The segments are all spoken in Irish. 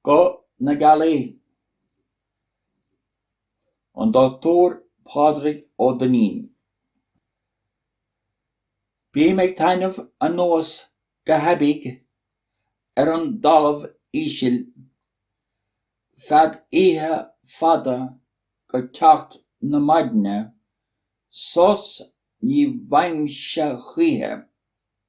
Guth na Gealaí. An Dr. Pádraig Ó Duinnín. Bím ag taitneamh anuas go haibidh ar an dtalamh ísil feadh oíche fada go teacht na maidne, sos ní bhfaighimse choíche.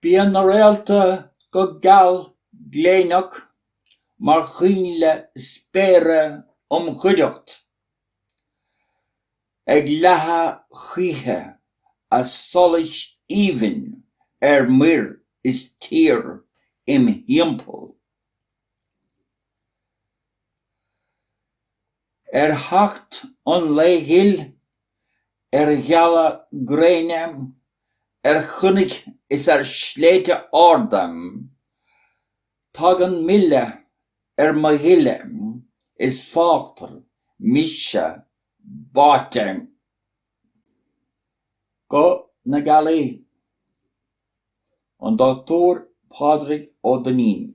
Bíonn na réalta go geal gléineach mar choinnle spéire im chuideacht, ag leathadh choíche a solais aoibhinn ar muir is tír im thimpeall. Ar theacht an lae ghil, ar ghealadh gréine, ar chnoic is ar shléibhte arda, tagann milleadh ar mo ghile is fágtar mise báite. Guth na Gealaí, An Dochtúir Pádraig Ó Duinnín.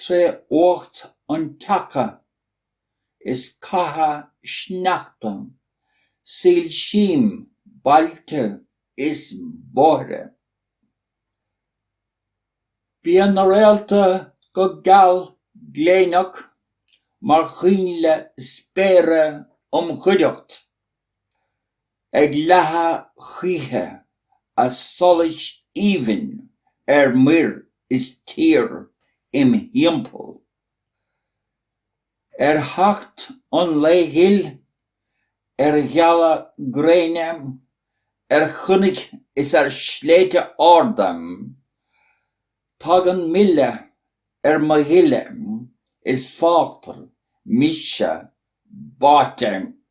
tré fhuacht an tseaca is ceatha sneachta soilsím bailte is bóithre. Bíonn na réalta go geal gléineach mar choinnle spéire im chuideacht Ag leathadh choíche a solais aoibhinn ar muir is tír im thimpeall. Ar theacht an lae ghil, ar ghealadh gréine, ar chnoic is ar shléibhte arda, tagann milleadh ar mo ghile is fágtar mise báite.